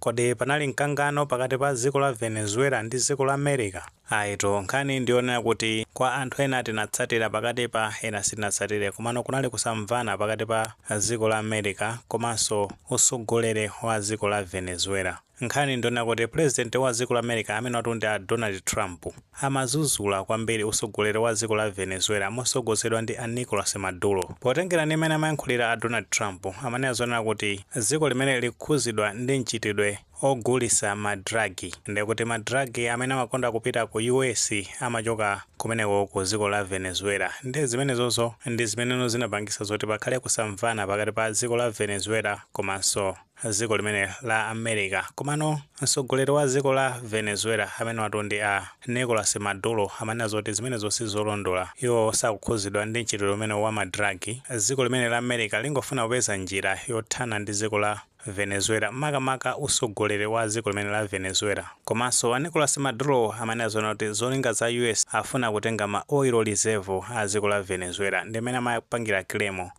Kodi panali mkangano pakati pa dziko la Venezuela ndi dziko la America? Ayitu, nkhani ndi yonena kuti kwa anthu ena tinatsatira pakati pa ena sitinatsatire komano kunali kusamvana pakati pa dziko la America komanso utsogoleri wa dziko la Venezuela. Nkhani ndiyonena kuti President wa dziko la America amenewatu ndi a Donald Trump. amazuzula kwambiri usogoleri wa dziko la Venezuela mosogozedwa ndi a Nicolas Maduro. Potengera ndi mmene amayankhulira a Donald Trump amanena zonena kuti dziko limene likukhuzidwa ndi mchitidwe ogulisa ma drug ndekuti ma drug amene amakonda kupita ku US amachoka kumeneko ku dziko la Venezuela nde zimenezozo ndi zimeneno zinapangisa zoti pakhale kusamvana pakati pa dziko la Venezuela komanso ziko limene la America komano msogoleri wa ziko la Venezuela amene watu ndi a Nicolas Maduro amanena zoti zimenezo sizolondola iwo sakukhuzidwa ndi mchitidwe umenewo wa ma drug ziko limene la America lingofuna kupeza njira yothana ndi ziko la Venezuela makamaka usogoleri wa ziko limene la Venezuela komanso a Nicolas Maduro amanena zonena kuti zolinga za US afuna kutenga ma oil reserve a ziko la Venezuela ndi mmene amapangira claim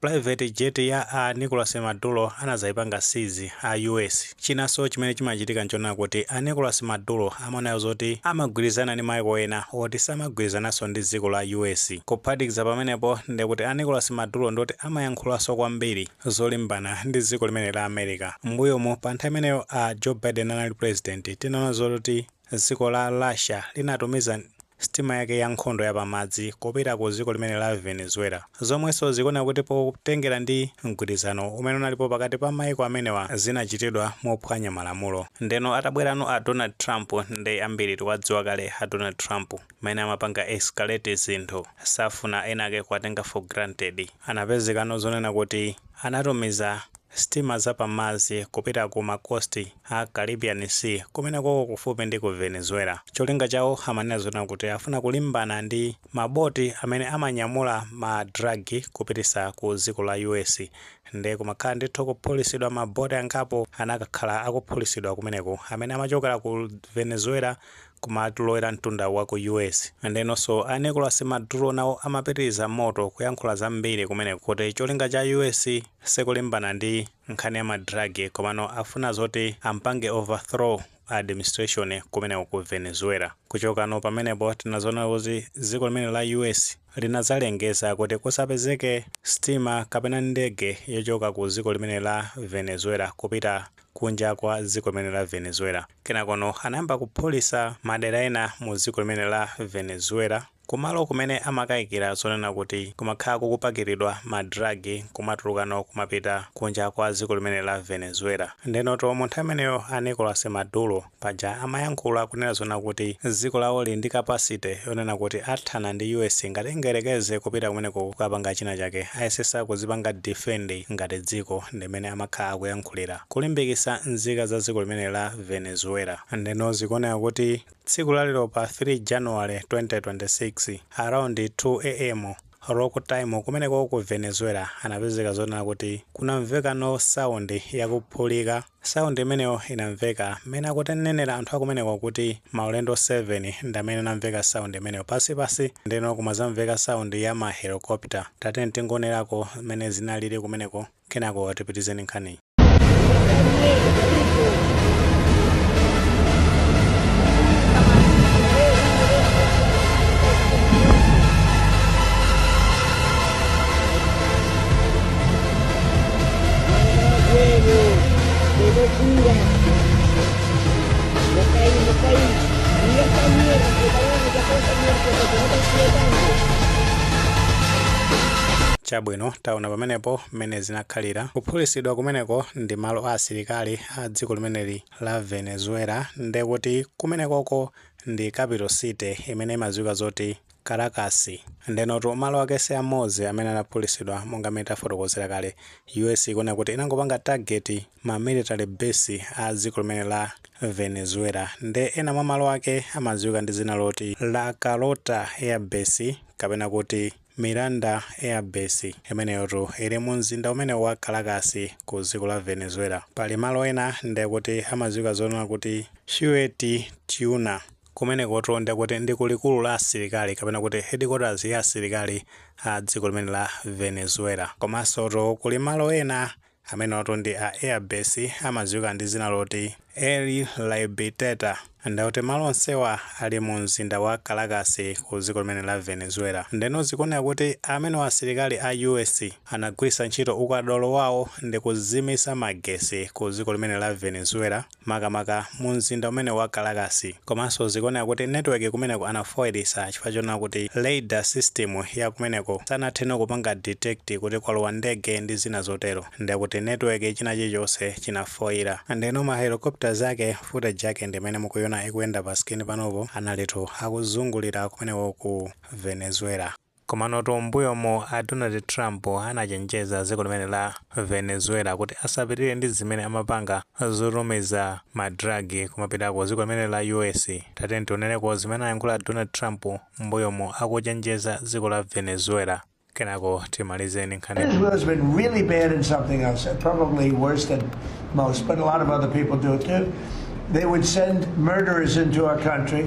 Private jet ya a Nicolas Maduro anadzaipanga seize a US. Chinanso chimene chimachitika nchonena kuti a Nicolas Maduro amaonano zoti amagwirizana ndi maiko ena oti samagwirizananso ndi dziko la US. Kuphatikiza pamenepo ndekuti a Nicolas Maduro ndioti amayankhulanso kwambiri zolimbana ndi dziko limene la America. Mmbuyomu pa nthawi imeneyo a Joe Biden anali Pulezidenti tinaona zoti Dziko la Russia linatumiza sitima yake ya nkhondo ya pamadzi kupita ku dziko limene la Venezuela, zomwenso zikuoneka kuti potengera ndi mgwirizano umene unalipo pakati pa maiko amenewa zinachitidwa mophwanya malamulo. Ndeno atabwerano a Donald Trump nde ambiri tiwadziwa kale a Donald Trump mmene amapanga escalate zinthu safuna enake kuwatenga for granted. Anapezekano zonena kuti anatumiza Sitima za pamadzi kupita ku ma coast a Caribbean Sea kumenekoko kufupi ndi ku Venezuela. Cholinga chawo amanena zonena kuti afuna kulimbana ndi ma boti amene amanyamula ma drug kupitisa ku dziko la US. Nde kumakhala ndithu kuphulisidwa ma boti angapo anakakhala akuphulisidwa kumeneko amene amachokera ku Venezuela Kumalowera mtunda wa ku US. Ndenonso a Nicolas Maduro nawo amapitiriza moto kuyankhula zambiri kumeneko kuti cholinga cha US sikulimbana ndi nkhani ya ma drug komano afuna zoti ampange overthrow administration kumeneko ku Venezuela. Kuchokano pamenepo tinazoona kuti dziko limene la US linadzalengeza kuti kusapezeke sitima kapena ndege yochoka ku dziko limene la Venezuela kupita kunja kwa dziko limene la Venezuela. Kenakono anayamba kuphulisa madera ena mu dziko limene la Venezuela kumalo kumene amakayikira zonena kuti kumakhala kukupakiridwa ma drug kumatulukano kumapita kunja kwa dziko limene la Venezuela. Ndenoto munthu ameneyo a Nicolas Maduro, Paja amayankhula kunena zonena kuti dziko lawo lili ndi capacity yonena kuti athana ndi US ngati ingayerekeze kupita kumeneko kukapanga china chake ayesesa kudzipanga defend ngati dziko ndimene amakhala akuyankhulira kulimbikisa nzika za dziko limene la Venezuela ndeno zikuoneka kuti tsiku la lero pa 3 January 2026 around 2 AM local time kumeneko ku Venezuela anapezeka zonena kuti kunamveka no sound yakuphulika Sound imeneyo inamveka mmene akutinenera anthu akumeneko kuti maulendo 7 ndamene anamveka sound imeneyo pansi pansi ndeno kumazamveka sound ya ma helicopter tatiyeni tingoonerako mmene zinalili kumeneko kenako tipitize nkhaniyi. chabwino taona pamenepo mmene zinakhalira kuphulitsidwa kumeneko ndi malo a asilikali a dziko limeneli la venezuela ndekuti kumenekoko ndi capital city imene imadziwika zoti Caracas. Ndenotu, malo ake si amodzi amene anaphulitsidwa, monga mmene tafotokozera kale. U.S. ikunena kuti inangopanga target ma military base a dziko limene la Venezuela. Nde ena mwa malo ake amadziwika ndi dzina loti La Carlota Air Base, kapena kuti Miranda Air Base. Imeneyotu ili mu mzinda umene wa Caracas, ku dziko la Venezuela. Pali malo ena nde kuti amadziwika zonena kuti Fuerte Tiuna. Kumenekotu ndiye kuti ndi ku likulu la asilikali kapena kuti headquarters ya asilikali a dziko limene la Venezuela. Komansotu kuli malo ena amenewatu ndi a air base amadziwika ndi dzina loti El Libertador. Ndiye kuti malo onsewa ali mu mzinda wa Caracas ku dziko limene la Venezuela. Ndeno zikuoneka kuti amenewa asilikali a US anagwiritsa ntchito ukadaulo wawo ndi kuzimitsa magetsi ku dziko limene la Venezuela. makamaka mu mzinda umene wa Caracas, komanso zikuoneka kuti network kumeneko anafoilisa chifukwa chonena kuti radar system ya kumeneko sanathe no kupanga detect kuti kwalowa ndege ndi zina zotero, nde kuti network china chilichonse chinafoila, ndeno ma helicopters ake footage yake ndi imene mukuiona ikuyenda pa screen panopo, analitu akuzungulira kumeneko ku Venezuela. Komanotu mmbuyomu a Donald Trump anachenjeza dziko limene la Venezuela kuti asapitilire ndi zimene amapanga zotumiza ma drug kumapita ku dziko limene la US. Tatiyeni tioneleko zimene anayankhula Donald Trump mmbuyomu akuchenjeza dziko la Venezuela. Kenako timalize ndi nkhani. Venezuela has been really bad in something else, probably worse than most, but a lot of other people do it too. They would send murderers into our country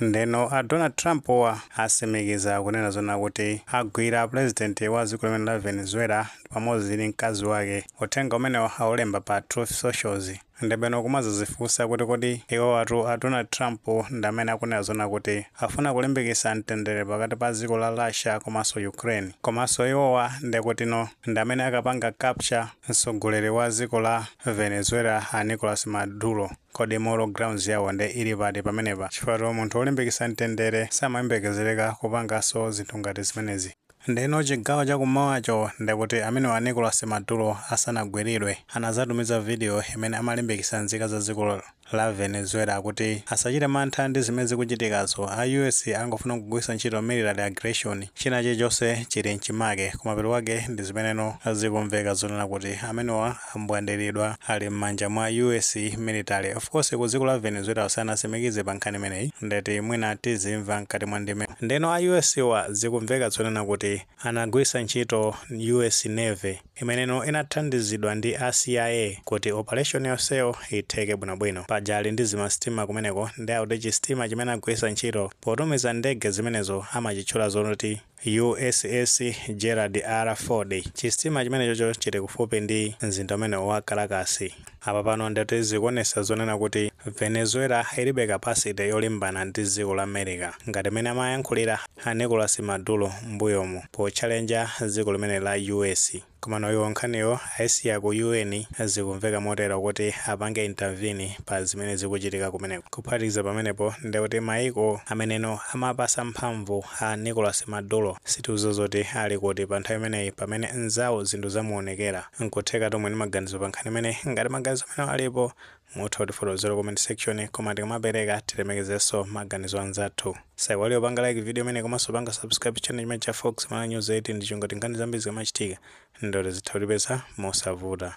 Ndeno a Donald Trump wa asimikiza kunena zona kuti agwira a president wa dziko limene la Venezuela pamodzi ndi mkazi wake. Uthenga umenewo aulemba pa Truth Socials. Ndebwino kumazazifunsa kuti kodi iwowatu a Donald Trump ndamene akunena zona kuti afuna kulimbikisa mtendere pakati pa dziko la Russia komanso Ukraine. Komanso iwowa ndekutino ndamene akapanga capture mtsogoleri wa dziko la Venezuela a Nicolas Maduro. Kodi moral grounds yawo nde ili pati pamenepa? Chifukwatu munthu olimbikitsa mtendere samayembekezereka kupanganso zinthu ngati zimenezi. Ndeno chigawo cha kummawacho ndekuti amenewa Nicolas Maduro asanagwilidwe anazatumiza video imene amalimbikitsa nzika za dziko la Venezuela kuti asachite mantha ndi zimene zikuchitikazo, a US angofuna kugwilitsa ntchito military aggression, china chilichonse chili mchimake, kumapeto kwake ndi zimeneno zikumveka zonena kuti amenewa ambwandiridwa ali mmanja mwa US military of course ku dziko la Venezuela sanasimikize pa nkhani imeneyi ndeti mwina tizimva mkati mwa ndime ndeno a US wa zikumveka zonena kuti anagwirisa ntchito US Navy imeneno inathandizidwa ndi a CIA kuti operation yonseyo itheke bwinobwino paja ali ndi zimasitima kumeneko nde akuti chisitima chimene agwirisa ntchito potumiza ndege zimenezo amachitchula zoti USS Gerald R. Ford. Chisitima chimenechocho chili kufupi ndi mzinda umenewo wa Caracas. Apa pano ndeti zikuonesa zonena kuti Venezuela ilibe capacity yolimbana ndi dziko la America ngati mmene amayankhulira a Nicolas Maduro mmbuyomu potchalenja dziko limeneli la US. Komano iwo nkhaniyo aisiya ku UN, zikumveka motero, kuti apange intervene pa zimene zikuchitika kumeneko. Kuphatikiza pamenepo, ndekuti mayiko ameneno amapatsa mphamvu a Nicolas Maduro sitikudziwa zoti ali kuti panthawi imeneyi pamene mnzawo zinthu zamuonekera. N'kuthekatu muli ndi maganizo pankhani imeneyi. Ngati maganizo amenewo alipo, mutha kutifotokozera comment section koma tikamapereka tilemekezenso maganizo anzathu osaiwala kupanga like video imeneyi komanso kupanga subscribe channel chimene cha fox mala news 18 ndi cholinga choti nkhani zambiri zikamachitika ndoti zizitha kukupezani mosavuta